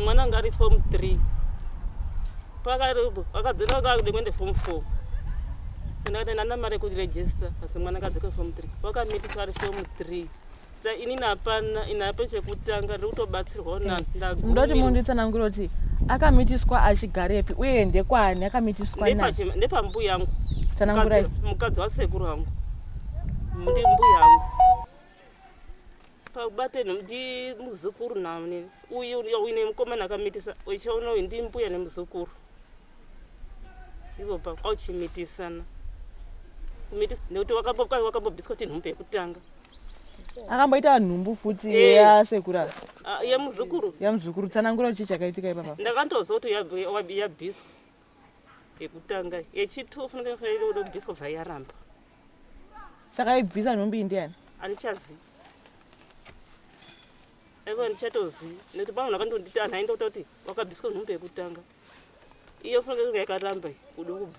mwana anga ari form three pakadzika kakude kuende form four sendakati ndana mari yekuregister asi mwana akadzika form three wakamitiswa ari form three sa ini napana inape chekutanga ndiri kutobatsirwawo na mm. ndagumira ndoti munhu nditsanangure kuti akamitiswa achigarepi uye ndekwaani akamitiswa na ndepambuya yangu tsanangurai mukadzi wasekuru wangu ndi mbuya yangu pabate ndi muzukuru namnini uyu uine mukomana akamitisa uchiona uyu ndi mbuya nemuzukuru ivo pauchimitisana kumitisa nekuti wakambobiswa tinhumbe yekutanga akamboita nhumbu futi Eh. yasekura Ah, yemuzukuru yamuzukuru tsanangura chii chakaitika ipapa ndakantoziva kuti yab- wab- yabhiswa yekutanga yechitwo funenge faida kuda kubhiswa bva yaramba saka aibvisa nhumbi iyi ndiani andichazivi aiva andichatozivi nekuti pamwe akandonditi anhu aenda kuta kuti wakabhiswa nhumbi yekutanga iyo funenge kunge yakaramba iyi kuda kubva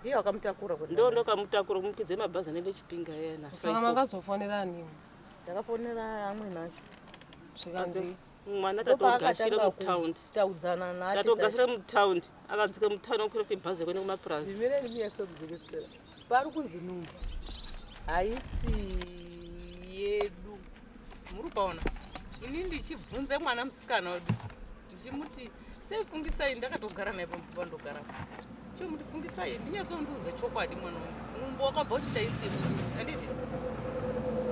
Ndiye wakamutakura kuti ndo ndokamutakura kumukidze mabhazi anende chipinga yena. Saka makazofonera ani? Ndakafonera amwe nacho. Zvikanzi mwana tatogashira mutaundi taudzana naye tatogashira mutaundi akadzika mutaundi akukwira kuti bhazi kuenda kumapurazi zvimene ndimi yasokudzikisira pari kunzi numba haisi yedu muri kuona ini ndichibvunze mwana musikana wedu ndichimuti sei fungisai ndakatogara naye pambuva ndogara chimuti fungisai ndinyazondiudza chokwadi mwana wangu mumbo wakabva uchita isimu anditi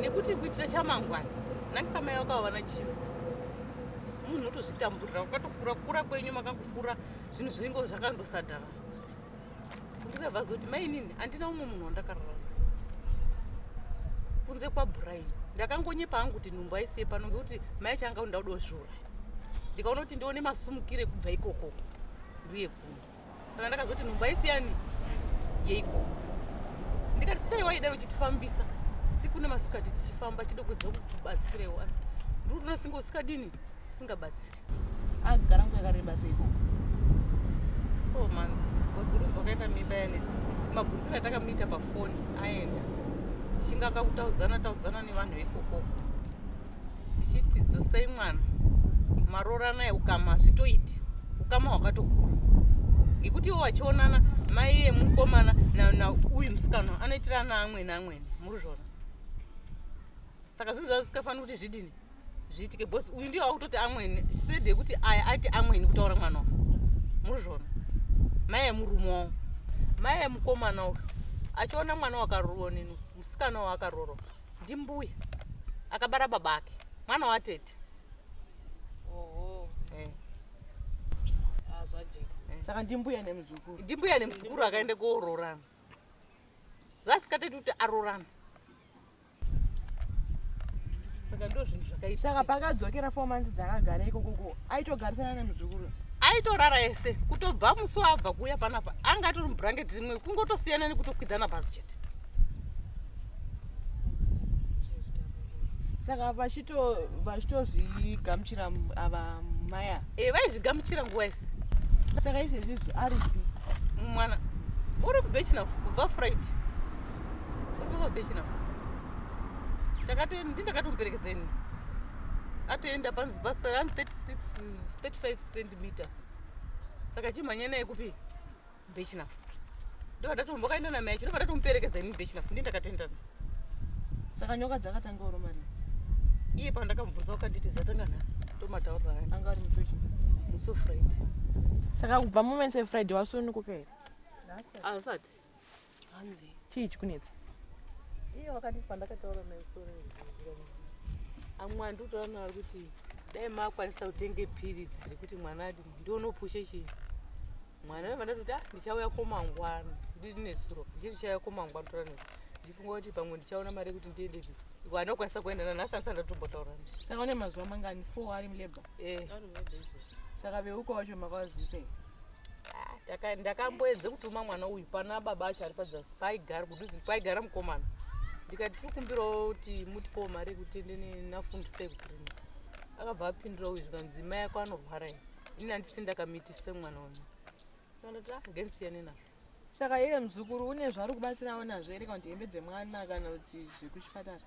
nekuti kuitira chamangwana nangisamai vakava vana chii munhu otozvitamburira kwakatokura kura kwenyu makakukura zvinhu zvinenge zvakandosadhara ndizobva zoti mainini handina umwe munhu wandakarara kunze kwabrian ndakangonyepa hangu kuti nhumbu aisiye pano ngekuti mai changa kuti ndauda kuzviuraya ndikaona kuti ndione masumukire kubva ikoko nduye kuno kana ndakazoti nhumbu aisiyani yeikoko ndikati sei waida uchitifambisa siku nemasikati tichifamba chidokudza kukubatsirewo asi ndiri kutoona singe usikadini usingabatsiri agara nguva yakareba seiko four months bcause rudzo wakaenda mimba yani mabvunziro atakamuita pafoni aenda tichinge akakutaudzana taudzana nevanhu vekokoko tichiti dzosei mwana maroorana eukama hazvitoiti ukama hwakatokura ngekuti iwo vachionana mai emukomana nauyu musikana anoitirana amwene amwene muri zvona saka zvinhu zvazisikafanira kuti zvidini zviitike bcause uyu ndiye wakutoti amweni said yekuti aya ati amweni kutaura mwana wa muri zvona mai yemurume wawo mai yemukomana uyu achiona mwana wakaruonini musikana wa akaroro ndimbuya akabara baba ake mwana watete saka ndimbuya nemuzukuru ndimbuya nemuzukuru akaenda koororana zvasikateti kuti arorana saka ndo zvinhu zvakaita saka pakadzokera four months dzakagara ikoko ko aitogarisana nemuzukuru aitorara ese kutobva musi waabva kuuya panapa anga atori mubhurangeti rimwe kungotosiyana nekutokwidzana pasi chete saka vachitozvigamuchira ava maya e eh, vaizvigamuchira nguva ese saka izvezvizvi aripi mwana uri kubechina kubva friday ndindakatomuperekedzeni atoenda panzi basa rani 36 35 centimeters saka chimhanya naye kupi bechina ndokadatombakaenda namai chino kadatomuperekedza ini bechina ndi ndakatendana saka nyoka dzakatanga oro mari iye pandakambvunza ukanditi dzatanga nhasi ndomataurira aya anga ari musochi muso friday saka kubva mumense friday wasununguka here asati Hanzi. Chii chikunetsa? Iye wakati pandakataura naye sore. Amwe andutaura naye kuti dai makwanisa kutenge piritsi rekuti mwana adi ndionopushe chii mwana vevanda kuti ah, ndichauya komangwana ndiri nesuro ndii ndichauya komangwana tora ne ndifunga kuti pamwe ndichaona mari yekuti ndiende vanokwanisa kuenda nanhasi andisati ndatombotaura saka une mazuva mangani four ari mulabor eh. saka veuka wacho makavazisei ah, ndakamboedze kutuma mwana uyu pana baba acho ari padza paigara kuduzi kwaigara mukomana ndikati tiri kumbirawo kuti mutipowo mari yekuti ndinafundise kugrina akabva apindura uyu zvikanzi mai ako anorwara ini ini handisi ndakamitise mwana uyu andati ah ngendisiyane nazvo saka iye muzukuru une zvaari kubatsirawo nazvo here kana kuti hembe dzemwana kana kuti zvekuchipatara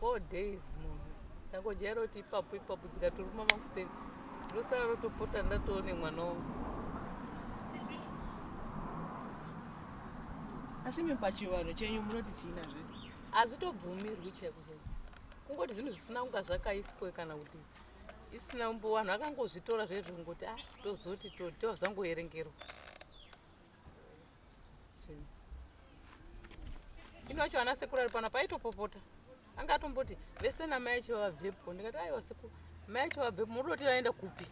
Four days munhu tangojaira kuti ipapo ipapo dzikatoruma makuseni ndosara rotopota ndatoone mwana wangu asi imi pachivanhu chenyu munoti chiina zve hazvitobvumirwi chaiko chaiko kungoti zvinhu zvisina kunga zvakaiswe kana kuti isina umbo vanhu vakangozvitora zvezvo kungoti a ah, tozoti tozvangoerengerwa ini wacho ana sekuru ari pano paitopopota anga atomboti vese namai acho vabvepo ndikati aiwa sekuru mai acho vabvepo muri kuti vaenda kupi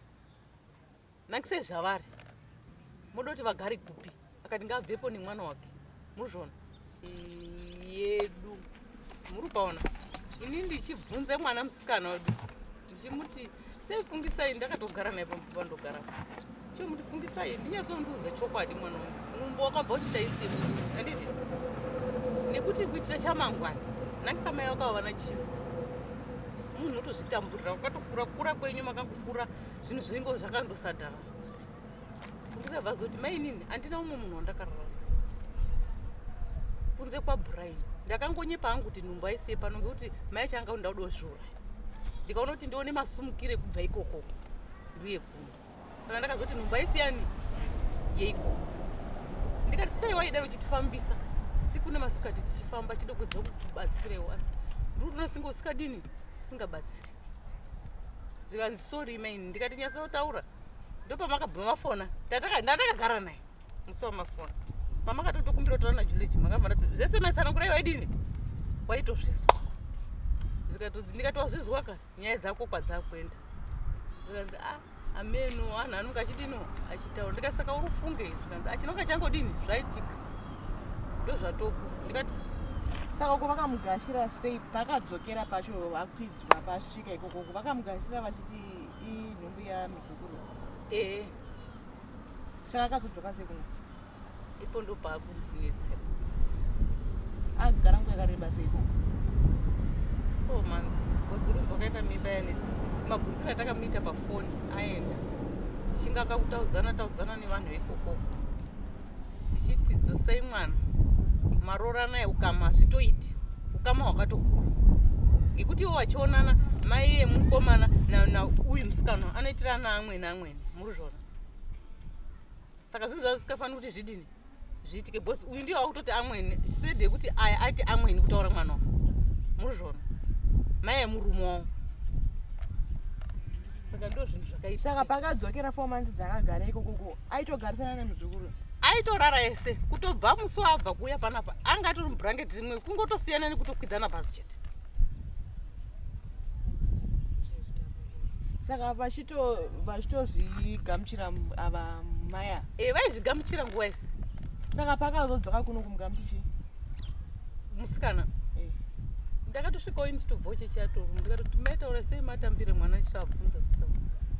nakise zvavari muri kuti vagari kupi akati ngaabvepo nemwana wake muzvona yedu muri kuona ini ndichibvunze mwana musikana wedu ndichimuti sei fungisai ndakatogara naye pambuva ndogara chomuti fungisai ndinyazondiudza chokwadi mwana wangu mumbo wakabva uchita isimu anditi nekuti kuitira chamangwana nangisamai vakava vana chii munhu otozvitamburira ukatokura kura kwenyu makakukura zvinhu zvinenge zvakandosadhara ndizobva zoti mainini handina umwe munhu wandakarara kunze kwabrian ndakangonyepa hangu kuti nhumbu aisiye pano ngekuti mai changa kuti ndauda kuzviuraya ndikaona kuti ndione masumukire kubva ikoko ndiuye kuno kana ndakazoti nhumbu aisiyani yeikoko ndikati sei waida uchitifambisa siku nemasikati tichifamba chidoko dzokubatsirewo asi ndiri kuti unosinga usikadini usingabatsiri zvikanzi sori maini ndikati nyasa otaura ndopamakabva mafona ndatakagara naye musi wamafona pamakatotokumbira kutaura najulichi makavana zvese maitsanangura iwa idini waitozvizwa ndikatozvizwa ka nyaya dzako kwadzakuenda zvikanzi a ah, ameno anhu anonge achidino achitaura ndikati saka uri ufunge zvikanzi achinonge ah, changodini zvaitika ndozvatoko ndikati saka uko vakamugashira sei pakadzokera pacho vakwidzwa pasvika ikoko vakamugashira vachiti inhumbu yamuzukuru ee saka akazodzoka sei kuno ipo ndopakundinetsera agara nguva yakareba sei ko four months bcoz runzi wakaita mimba yane six mabvunziro atakamuita pafoni aenda tichinga kakutaudzana taudzana nevanhu vekokoko ndichiti dzosei mwana maroranai ukama hazvitoiti ukama hwakatokura ngekuti iwo vachionana mai emukomana nauyu musikana anoitira ana amwene amwene muri zvona saka zvinhu zvazisikafaniri kuti zvidini zviitike bcause uyu ndiyo wakutoti amwene sede yekuti aya aiti amwene kutaura mwana wa muri zvona mai emurume wavo saka ndo zvinhu zvakaita saka pakadzokera four months dzakagara ikokoko aitogarisana nemuzukuru aitorara ese kutobva musi waabva kuuya panapa anga atori mubhurangeti rimwe kungotosiyana nekutokwidzana pasi chete saka vachitozvigamuchira ava maya e vaizvigamuchira nguva ese saka pakazodzoka kuno kumugamuchichi musikana eh. ndakatosvikawo ini chitobvawo chechiatoro ndikatoti maitaura sei matambire mwana ndichiabvunza sisa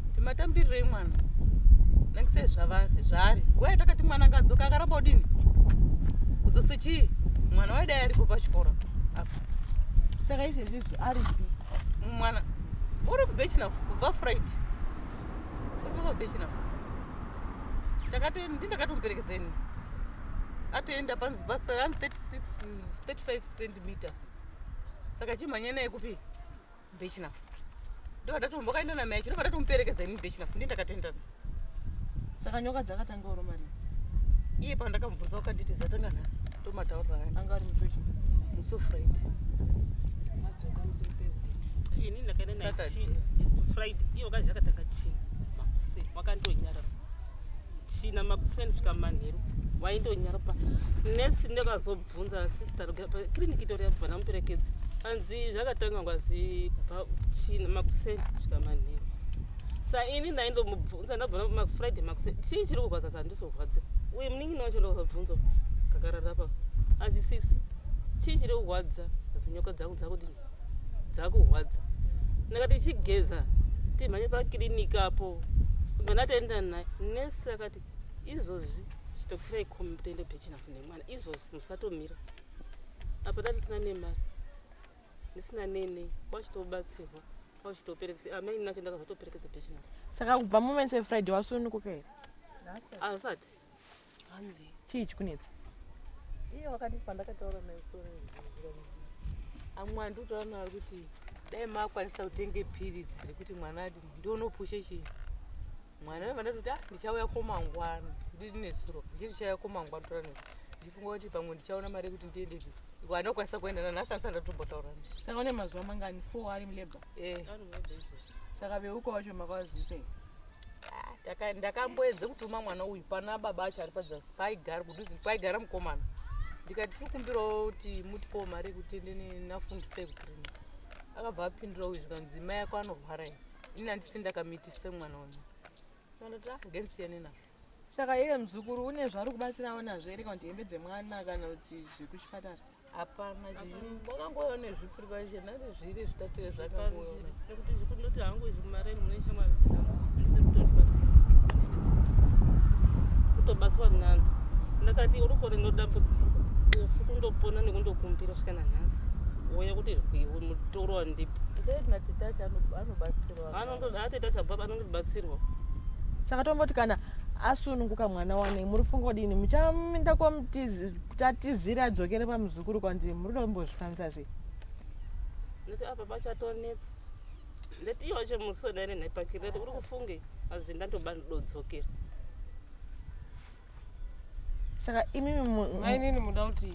kuti matambirirei mwana nangisei zvavari zvaari nguva yatakati mwana akadzoka akaramba udini kudzose chii mwana waidai aripo pachikoro apa saka izvezvizvi ari mwana uri kubechina kubva fright uri kubva bechina takati ndindakatomuperekedzeni atoenda panzi basa rani 36 35 centimeters saka chimhanya naye kupi bechinafu ndokadatombakaenda namai chinoka ndatomuperekedza ini bechinafu ndi ndakatendana saka nyoka dzakatanga oroma ri iye pandakambvunza wakanditi dzatanga nhasi tomataurira anga ari musochi musofrit madzoka musothursday ini ndakaenda naye chii is to friday iye wakazvi akatanga chii makuseni wakandonyarara china makuseni svika manheru waindonyaruka nesi ndakazobvunza sister kiriniki itori yabva namuperekedzi anzi zvakatanga ngwazi kubva china makuseni svika manheru sa ini ndaindomubvunza ndabva mafriday makuseni chii chiri kurwadza zandizorwadziwa uye munin'ina wacho ndakazobvunza kakararapa asi sisi chii chiri kurwadza zinyoka dzangu dzakudini dzakurwadza ndakati ichigeza timhanye pakiriniki apo kana taenda naye nesi akati izvozvi chitopirai komi toenda pechinafu nemwana izvozvi musatomira apa tatisina nemari ndisina nene kwachitobatsirwa kwachitoperekesa amai ah, nacho ndakazotoperekedza pechinafu saka kubva moment friday wasununguka here asati hanzi chii chikunetsa iye wakati pandakataura naisore amwani ndikutaura naari kuti dai makwanisa kutenge piritsi rekuti mwana ati ndionopushe chii mwana wevandati kuti ah, ndichauya komangwana ndiri nesuro ndiri ndichauya komangwana tora ne ndifunga kuti pamwe ndichaona mari yekuti ndiende zvi vanokwanisa kuenda nanhasi asi andatombotaura ne saka une mazuva mangani four ari mulabor eh. saka veuka wacho makawazisei ndakamboedza kutuma mwana uyu pana baba acho ari pazasi paigara kuduzi kwaigara mukomana ndikati tikumbirawo kuti mutipawo mari yekuti ende nafundisa ekutirima akabva apindura uyu zvikanzi mai ako anorwara i ini andisi ndakamitisa mwana uyu andati ah, ngendisiyane nazvo saka iye muzukuru une zvaari kubatsirawo nazvo ere kana kuti hembe dzemwana kana kuti zvekuchipatara hapana wakangouya nezvipi rikwaizve nari zviri zvitatu ezvakangouyaekuti zvikundoti hangu izvi mumareni mune shamwari kutobatswa nani ndakati uruko rinodambudziko ufu kundopona nekundokumbira svika nanhasi woya kuti mutoro wandipi anotoita chababa anondibatsirwa saka tongoti kana asununguka mwana wane muri funga kudini muchaminda kwamutizi tatizire adzokere pamuzukuru kwandiri muri kuda kumbozvifambisa sei nekuti apa pachatonetsa ndati iwo chemusona ine nhepakiri ndati uri kufunge azi ndandoba ndodzokera saka imimi mainini muda kuti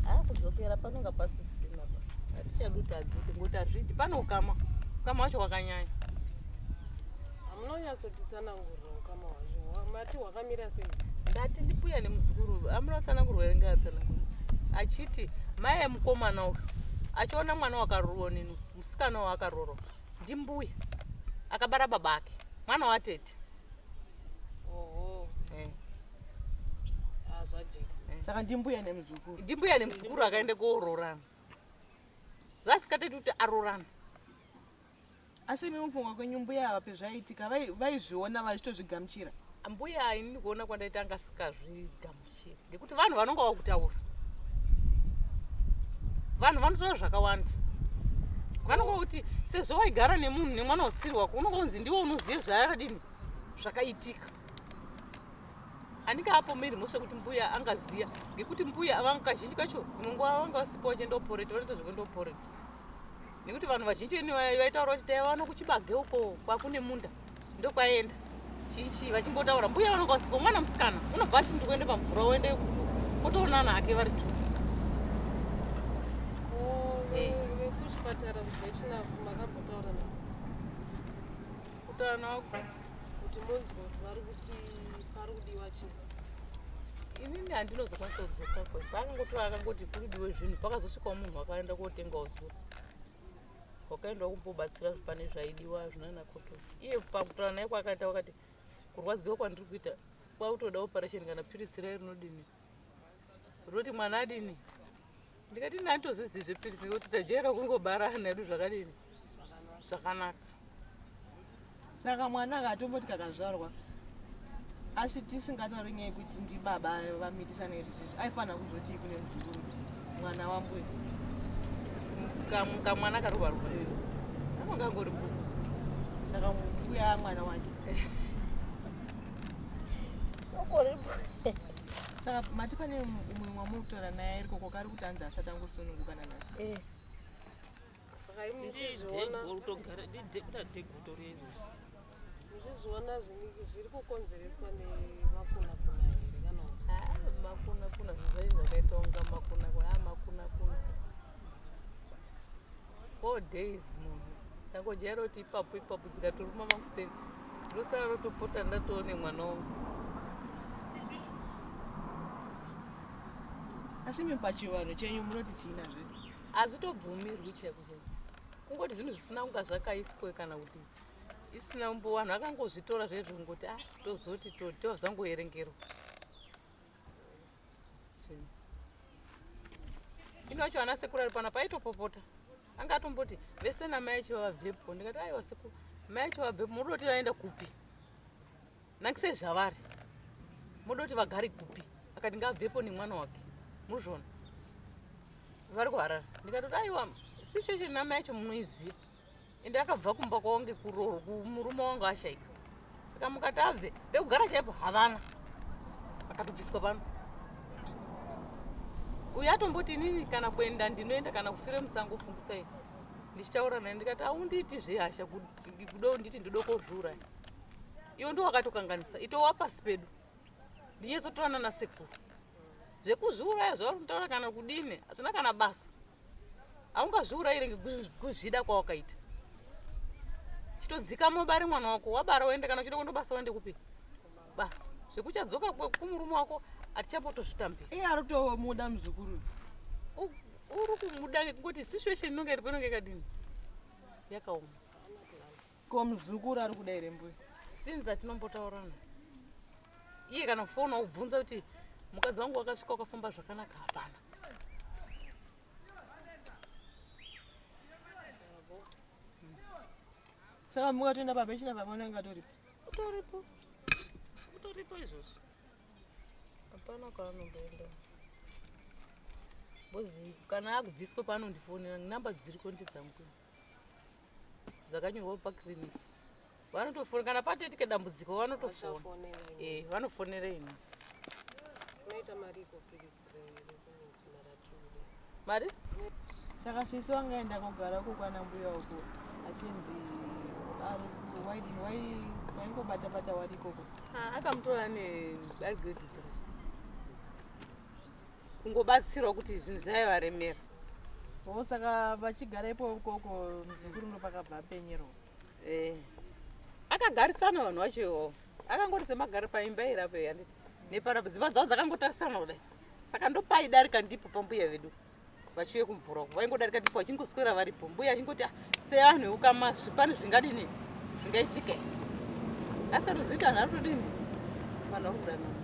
haa kudzokera panonga pasisina pa hatichadi kuti adzoke ngokuti azvidi pane ukama ukama wacho wakanyanya Hamunonyatsotitsanangurira ukama hwacho. Mati hwakamira sei? Ndati ndipuya nemuzukuru amunotsanangurwa here ngaatsanangurwa achiti mai emukomana uyu achiona mwana wakarurwa nini musikana waakarorwa ndimbuya akabara baba ake mwana watete saka ndimbuya nemuzukuru ndimbuya nemuzukuru akaenda koororana zvasikateti kuti arorana asi imi mufunga kwenyu mbuya ava pezvaiitika vaizviona vai vachitozvigamuchira mbuya ayi ndini kuona kwandaita anga sikazvigamuchira ngekuti vanhu vanonga vakutaura vanhu vanotaura zvakawanda vanonga vakuti sezvo waigara nemunhu nemwana usiri wako unonga unzi ndiwo unoziva zvaakadini zvakaitika handingapomeri mhosva kuti mbuya angaziya ngekuti mbuya avangu kazhinji kacho unonga vanga vasipo vachendoporeta vanoita zvekundoporeta nekuti vanhu vazhinji ini vaitaura kuti taiva vano kuchibage uko kwakune munda ndokwaienda chichi vachingotaura mbuya vanonga vasipo mwana musikana unobva ati ndikuende pamvura uende otoonana hake vari tu vekuchipatara kuvechinavu makambotaura navo kutaura navo kuti monzwa kuti vari kuti pari kudiwa chii inini handinozokwanisa kudzoka ko pakangotora akangoti kuri diwe zvinhu pakazosvikawo munhu akaenda kotengawo zvinhu wakaendwa kumbobatsira pane zvaidiwa zvinana koto iye pakutaura naye kwakaita wakati kurwadziwa kwandiri kuita kwakutoda operation kana piritsi raye rinodini rinoti mwana adini ndikati nanditozvizivi zvepiritsi kuti tajaira kungobarana hedu zvakadini zvakanaka saka mwana akatomboti kakazvarwa asi tisingatauri nyaya yekuti ndibaba vamitisana izvi zvichi aifanira kuzoti kune muzukuru mwana wambuya kamwana karoba roba kamangangori mbuku saka mbuya mwana wake saka mati pane umwe mwamuri kutora naye arikoko kari kuti anzi asati angosununguka nanasi eh. muchizviona zviri kukonzereswa nemakunakuna here kana kuti ah, makunakuna zvizaii zvakaita unga makunakuna a ah, makunakuna four days munhu tangojaira kuti ipapo ipapo dzikatoruma makuseni ndosara rotopota ndatoone mwana wangu asi mi pachivanhu chenyu munoti chiina zvese hazvitobvumirwi chaiko chaiko kungoti zvinhu zvisina kunga zvakaiswe kana kuti isina umbo vanhu vakangozvitora zvezvo kungoti a ah, tozoti totova zvangoerengerwa ino yacho ana sekuru ari pana paitopopota anga atomboti vese namai acho vavabvepo ndikati aiwa sekuru mai acho vabvepo muri kuti vaenda kupi nakise zvavari moda kuti vagari kupi akati ngaabvepo nemwana wake muzvona vari kuharara ndikatoti aiwa situation nama yacho munoiziva ende akabva kumba kwavo ngekurooro kumurume wangu ashaika saka mukati abve pekugara chaipo havana akatobviswa pano uyu atomboti inini kana kuenda ndinoenda kana kufire musango fungisai ndichitaura naye ndikati aundiiti zvehasha kudo nditi ndodokozviuraya iwo ndo wakatokanganisa itowa pasi pedu ndinyezotorana nasekuru zvekuzviuraya zvaurikutaura kana kudini hazvina kana basa haungazviurayire ngekuzvida kwawakaita chitodzika mobare mwana wako wabara woende kana uchida kundobasa woende kupi basa zvekuchadzoka kumurume wako hatichambotozvitambira iye aritomuda muzukuru uri kumuda ngekungoti situation inonga iripo inonga yakadini yakaoma Ko muzukuru ari kuda here mbuya? Since atinombotaurana. Iye kana kufona ubvunza kuti mukadzi wangu wakasvika ukafamba zvakanaka hapana. Saka mbuya toenda baba china baba unenge atoripo. Utoripo. Utoripo izvozvo. Hapana kwaanongoenda. Bozi kana akubviswa paanondifonera namba dziriko ndedzangu. dzakanyorwa pa clinic vanotofona kana patoitike dambudziko vanotofona eh vanofonera imi unoita mari iko mari saka sisi wangaenda kogara uko kwana mbuya uko achinzi ari waidini wai waingobata bata wari ikoko ah, akamutora ne ari grade three kungobatsirwa kuti zvinhu zvaivaremera o saka vachigara ipo ikoko muzukuru ndo pakabva apenyerwa eh. akagarisana vanhu vacho iwo akangoti semagari paimba irapo yani nepana dzimba dzavo dzakangotarisana kudai saka ndopaidarika ndipo pambuya vedu vachiuye kumvura uko vaingodarika ndipo vachingoswera varipo mbuya achingoti ah, sevanhu veukama zvipani zvingadini zvingaitika asikatozita vanhu vatodini vanhu vakudanana